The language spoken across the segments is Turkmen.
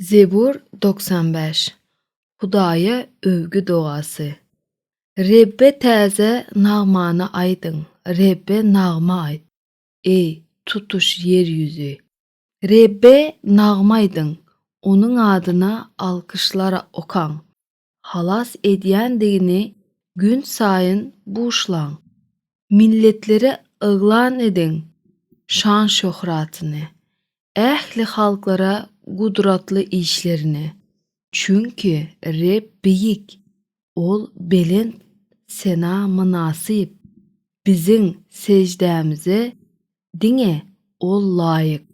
Zebur togsan bäş. Hudaýa öwgi dogasy. Rebbe täze nagmany aýdyň, Rebbe nagma aýt, eý, tutuş ýer ýüzi. Rebbe nagma aýdyň, Onuň adyna alkyşlar okaň. halas edýändigini günsaýyn buşlaň. Milletlere yglan ediň şan-şöhratyny, ähli halklara gudratly işlerini. Çünki Reb beýik, Ol belent sena mynasyp. Biziň seždämize diňe Ol laýyk.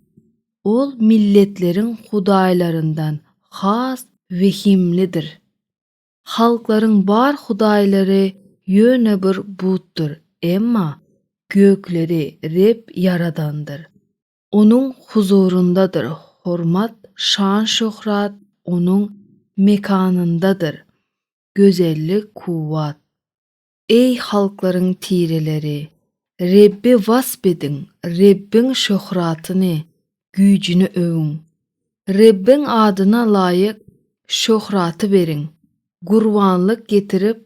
Ol milletleriň hudaýlaryndan has wehimlidir. Halklaryň bar hudaýlary ýöne bir butdyr, emma gökleri Reb ýaradandyr. Onuň huzuryndadyr hormat, şan-şöhrat Onuň mekanyndadyr, gözellik, kuwwat. Eý, halklaryň tireleri! Rebbi wasp ediň, Rebbiň şöhratyny, güýjüni öwüň. Rebbiň adyna laýyk şöhraty beriň, gurbanlyk getirip,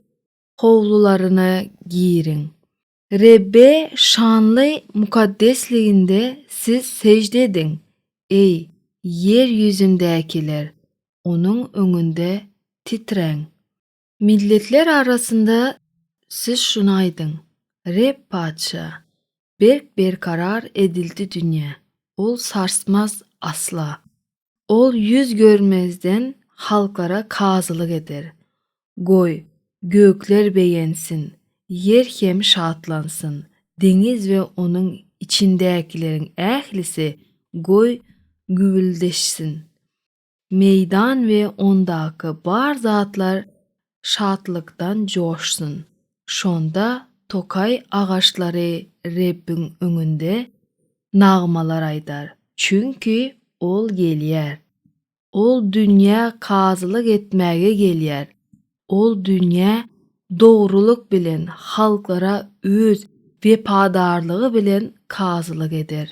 howlularyna giriň. Rebbe şanly mukaddesliginde siz sežde ediň, eý, ýer ýüzündäkiler, Onuň öňünde titräň. Milletler arasynda siz şuny aýdyň, Reb Patyşa, Berk berkarar edildi dünýä, ol sarsmaz asla. Ol ýüz görmezden halklara kazylyk eder. Goý, gökler begensin, ýer hem şatlansyn, deňiz we onuň içindäkileriň ählisi goý, güwwüldeşsin. Meýdan we ondaky bar zatlar şatlykdan joşsun. Şonda tokaý agaçlary Rebbiň öňünde nagmalar aýdar, çünki Ol gelýär. Ol dünýä kazylyk etmäge gelýär, Ol dünýä dogrulyk bilen, halklara Öz wepadarlygy bilen kazylyk eder.